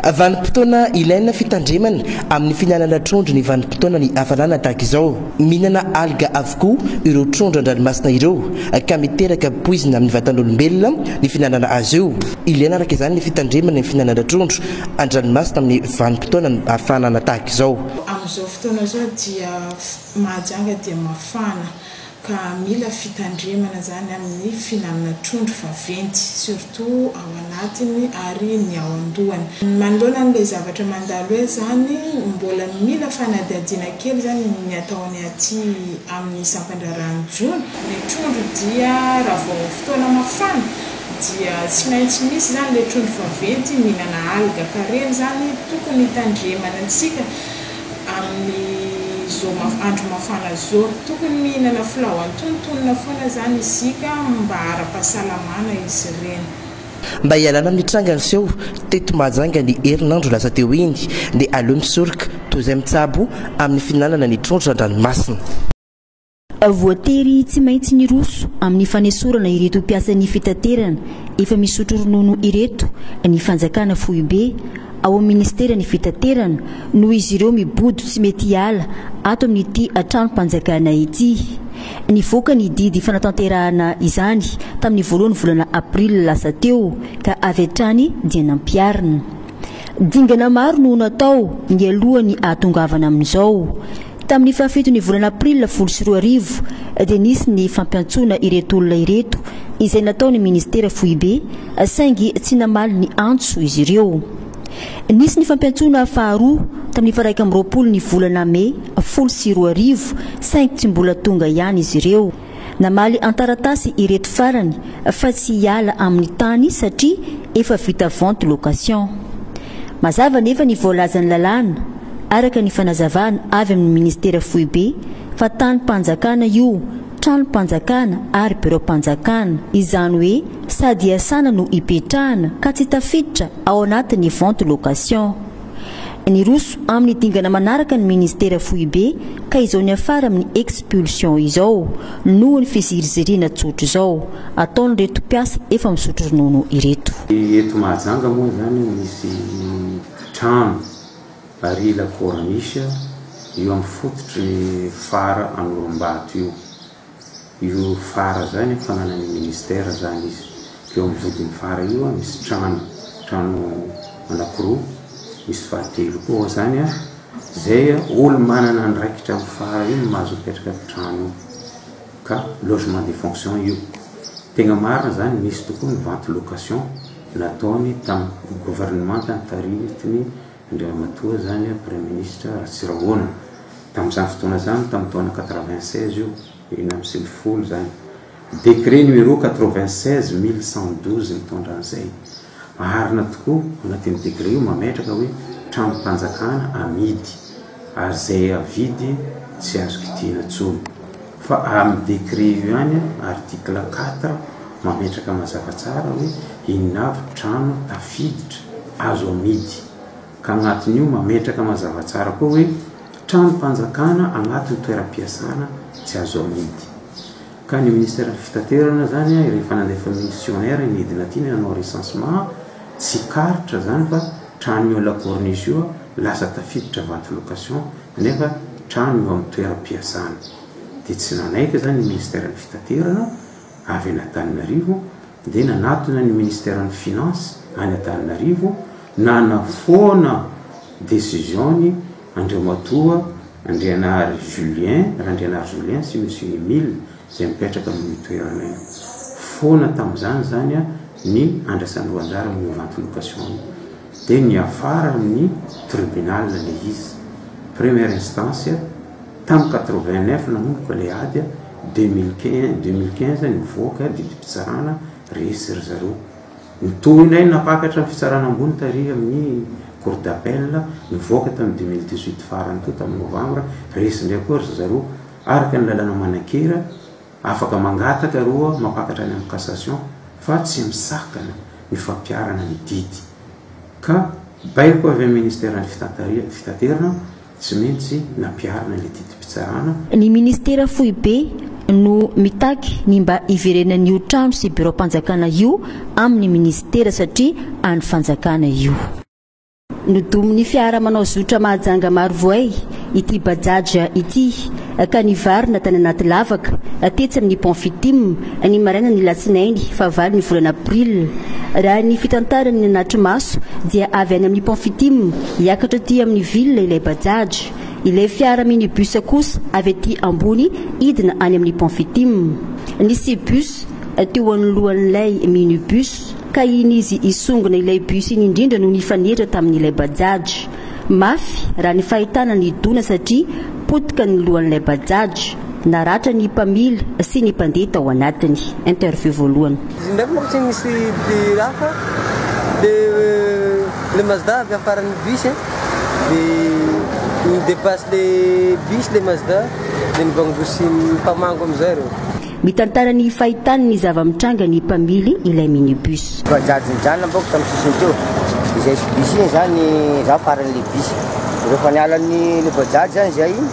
Vanim-potoana ilaina fitandremana amin'ny fihinanana trondro ny vanim-potoana ny hafanana tahaka izao. Mihinana alga avokoa ireo trondro an-dranomasina ireo ka miteraka poizina amin'ny vatan'olombelona ny fihinanana azy io. Ilaina araka izany ny fitandremana ny fihinanana trondro an-dranomasina amin'ny vanim-potoana ny hafanana tahaka izao. Amin'izao fotoana izao dia Mahajanga dia mafana ka mila fitandremana zany amin'ny fihinanana trondro vaventy surtout ao anatiny ary ny ao an-dohany. Manoloana an'ilay zavatra mandalo eo zany, mbola mila fanadihadiana kely zany ny atao any aty amin'ny sampan-draharahan'ny jono. Ny trondro dia raha vao fotoana mafana dia tsy maintsy misy zany le trondro vaventy mihinana alga ka reny zany tokony hitandremana antsika. amin'ny zo maf andro mafana zo. Tokony mihinana filao antonontonona foana zany isika mba ara-pahasalamana izy ireny. Mba hialana amin'ny tranga niseho teto Mahajanga ny herinandro lasa teo iny dia aleo misoroka toy izay mitsabo amin'ny fihinanana ny trondro an-dranomasina. Voatery tsy maintsy niroso amin'ny fanesorana ireto mpiasan'ny fitaterana efa misotro ronono ireto ny fanjakana foibe ao amin'ny ministeran'ny fitaterana noho izy ireo mibodo tsy mety hiala ato amin'ity tranom-panjakana ity. Nivoaka ny didy fanatanterahana izany tamin'ny voalohan'ny volana aprily lasa teo ka avy hatrany dia nampiharina. Dingana maro no natao nialoha ny hahatongavana amin'izao. Tamin'ny fahafiton'ny volana aprila folo sy roa arivo dia nisy ny fampiantsoana ireto olona ireto izay nataon'ny minisitera foibe saingy tsy namaly ny antso izy ireo. Nisy ny fampiantsoana faharoa tamin'ny faha iraika amby roapolo ny volana mey folo sy roa arivo saingy tsy mbola tonga ihany izy ireo. Namaly an-taratasy ireto farany fa tsy hiala amin'ny tany satria efa vita vente location. Mazava anefa ny voalazan'ny lalàna, araka ny fanazavana avy amin'ny Ministera Foibe, fa tanim-panjakana io, tranom-panjakana ary biraom-panjakana, izany hoe sady iasana no ipetrahana ka tsy tafiditra ao anatin'ny vente location. Niroso amin'ny dingana manaraka ny Ministera foibe ka izao niafara amin'ny expulsion izao noho ny fiziriziriana tsotra izao ataon'ireto mpiasa efa misotro ronono ireto. Eto Mahajanga moa izany misy trano barila corniche eo amin'ny fototry ny fara Anorombaato io. io fara izany an, fananany ministère izany izy, eo amin'ny vodin'ny fara io an, misy trano, trano anakiroa, misy fahatelo koa ao izany an, izay an, olo manana andraikitra amin'ny fara io no mahazo mipetraka amin'ny trano io, ka logement de fonction io, tegna marina izany, nisy tokoa ny vente location nataony tamin'ny gouvernementa taritin'i. Andriamatoa izany Praiministra Ratsirahona. Tamin'izany fotoana izany, tamin'ny taona quatre-vingt-seize io, enina amby sivy folo izany. Décret numéro quatre-vingt-seize mille cent douze nitondra an'izay. Marina tokoa, ao anatin'io décret io mametraka hoe tranom-panjakana amidy. Ary izay avidy tsy azo kidiana tsony. Fa amin'ny décret io ihany, article quatre, mametraka mazava tsara hoe inona avy trano tafiditra azo amidy. Ka agnatin'io mametraka mazava tsara koa hoe tranom-panjakana agnatin'ny toeram-piasana tsy azo amidy. Ka ny ministeran'ny fitaterana zany rehefa nandefa missionnaire nidina aty ny nanao recensement, tsy karitra zany fa trano eo la corniche io lasa tafiditra vente location nefa trano eo amin'ny toeram-piasana. Dia tsy nanaiky zany ny ministeran'ny fitaterana avy an'Antananarivo dia nanatona ny Ministeran'ny Finances any Antananarivo nanafoana décision-ny Andriamatoa Andrianary Julien, Randrianary Julien sy Monsieur Emile izay mipetraka amin'io toerana io. Foana tamin'izany izany ny andrasan-doha-anjara amin'ny vente location-ny. Dia niafara amin'ny Tribunal ilay izy, première instance, Tam quatre-vingt-neuf nanomboka ilay ady a, deux mille quinze, deux mille quinze nivoaka didim-pitsarana resy ry zareo. Ny tohinay nampakatra ny fitsarana ambony tary amin'ny cour d'appel nivoaka tamin'ny deux mille dix-huit farany teo tamin'ny novembre, resy indray koa ry zareo araka ny lalana manan-kera, afaka mangataka roa mampakatra any amin'ny cassation fa tsy misakana ny fampiharana ny didy ka baiko avy amin'ny ministeran'ny fitaterana. Tsy maintsy nampiharina ny didim-pitsarana. Ny Ministera foibe no mitaky ny mba hiverenan'io trano sy biraom-panjakana io amin'ny Ministera satria an'ny fanjakana io. Nodomin'ny fiara manao zotra mahajanga maro voay ity Bajaj ity ka nivarina tany anaty lavaka tetsy amin'ny Pont Fitim ny marainan'ny Alatsinainy fahavalon'ny volana Aprily. Raha ny fitantaran'ny nanatri-maso dia avy any amin'ny Pont Fitim Hiakatra aty amin'ny ville ilay Bajaj. Ilay fiara minibus kosa avy aty ambony hidina any amin'ny pont Fitim. Nisy bus teo anoloan'ilay minibus ka iny izy hisongona ilay bus iny indrindra no nifanehitra tamin'ilay Bajaj. Mafy raha ny fahitana ny dona satria potika ny lohan'ilay Bajaj. Naratra ny mpamily sy ny mpandeha tao anatiny. Interview voalohany. Izy ndraiky manko tsy misy raha fa le le mazda avy amin'ny faran'ny bus e, de ni depasse le bus le mazda de nivangosiny mpamango amizay reo. Mitantara ny fahitany ny zava-mitranga ny mpamily ilay minibus. Bajaj nijanona bako tamin'ny sisiny teo, izay bus iny zany za faran'ilay bus, rehefa niala ny le bajaj zany zay,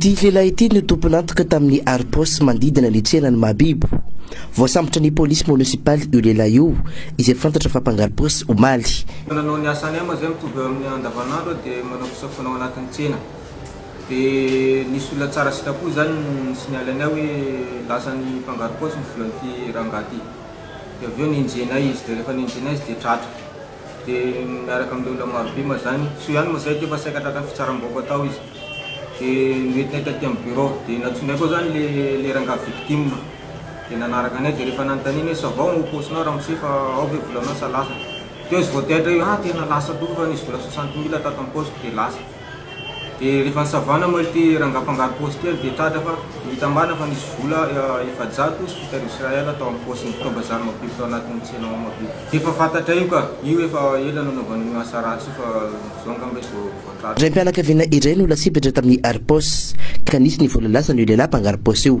Ity lehilahy ity no tompon'antoka tamin'ny harom-paosy manodidina ny tsenan'i Mahabibo. Voasambotra ny polisy monisipaly io lehilahy io, izay fantatra fa mpangarom-paosy omaly. Nanao ny asa anay moa izay mitovy eo amin'ny andavanandro dia manao fisafoana ao anatin'ny tsena. Dia nisy olona tsara sitrapo izany ni-signaler anay hoe lasan'ny mpangarom-paosy ny volan'ity rangahy ity. Dia avy eo nenjehinay izy dia rehefa nenjehinay izy dia tratra. dia miaraka amin'ireo olona marobe mazany, soa ihany moa izay dia efa saika tratran'ny fitsaram-bahoaka tao izy, dia noentinay taty amin'ny bureau, dia nantsoinay koa izany ilay rangahy victime, dia nanaraka anay, dia rehefa nanontaniana hoe ça va ao paosinao ramose fa ao ve volanao sa lasa, teo izy vao taitra io, ah tena lasa tokoa fa nisy vola soixante mille tato am-paosiko dia lasa. Dia rehefa nisavana moa ity rangahy mpangaro paosy ity ary dia tratra fa nitambàna fa nisy vola efajato sy fito arivo srl tao amin'ny paosin'ny mpitao-bazary mavidy tao anatin'ny tsena ao Mahabibo. Dia efa fantatray io ka! Io efa ela nanaovany an'io asa ratsy io fa izao angamba izy vao vao tratra. Raim-pianakaviana iray no lasibatra tamin'ny ari-paosy ka nisy ny vola lasan'io lehilahy mpangaro paosy io.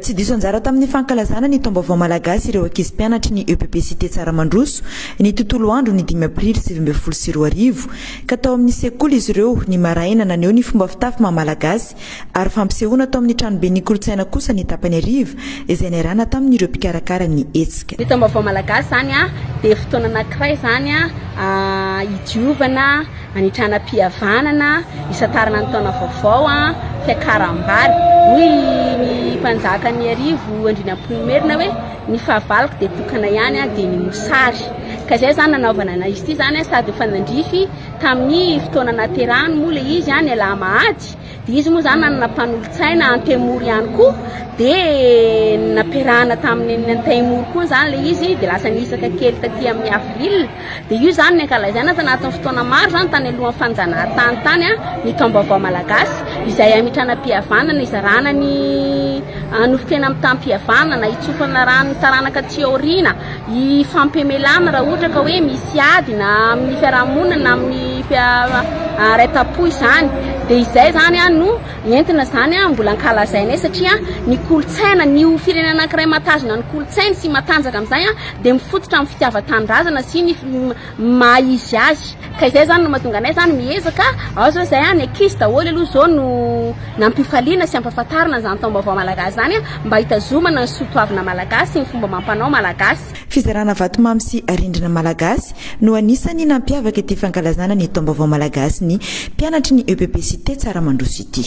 Tsy diso anjara tamin'ny fankalazana ny taom-baovao malagasy ireo ankizy mpianatry ny epp Cité Tsaramandroso, ny tontolo andro ny dimy aprily sivy ambin'ny folo sy roa arivo, ka tao amin'ny sekoly izy ireo ny maraina naneho ny fomba fitafy maha malagasy ary fampisehoana tao amin'ny tranoben'ny kolontsaina kosa ny tapany hariva izay niarahana tamin'ireo mpikarakara ny hetsika. Ny taom-baovao malagasy izany dia fotoana anankiray izany hidiovana, Hanitrana am-pihavanana hisantarana ny taona vaovao fiakaram-bary. Hoy ny mpanjakan'Iarivo Andrianampoinimerina hoe ny fahavaloko dia tokana ihany dia ny mosary. Ka izay izany nanaovana anay izy ity izany sady efa nandrify tamin'ny fotoana nahaterahany moa ilay izy ny alahamahady. Dia izy moa zany nanana mpanolotsaina Antemoro ihany koa dia nampiarahana tamin'ny Antemoro koa zany le izy dia lasa nihisaka kely taty amin'ny Avril dia io zany ny ankalazaina tanatin'ny fotoana maro zany tany alohan'ny fanjanahantany tany a ny taom-baovao malagasy izay hamitranam-pihavanana hizarana ny nofon-kena mitam-pihavanana hitsofana rano taranaka aty aoriana Hifampiamelana raha ohatra ka hoe misy ady na amin'ny fiarahamonina na amin'ny haraitam-po izany dia izay izany no entina izany mbola ankalazainay satria ny kolontsaina ny ho firenena anankiray mahatazona ny kolontsainy sy matanjaka amin'izay dia mifototra amin'ny fitiavan-tanindrazana sy ny ny maha izy azy ka izay zany no mahatonga anay zany miezaka ao zao izay any ankizy daholo aloha zao no nampifaliana sy ampafantarina an'izany taom-baovao malagasy izany mba hitazomana ny soa toavina malagasy sy ny fomba amam-panao malagasy. Fizarana vatomamy sy arendrina malagasy no anisan'ny nampiavaka ity fankalazana ny taom-baovao malagasy ny mpianatry ny EPP Cité Tsaramandroso ity.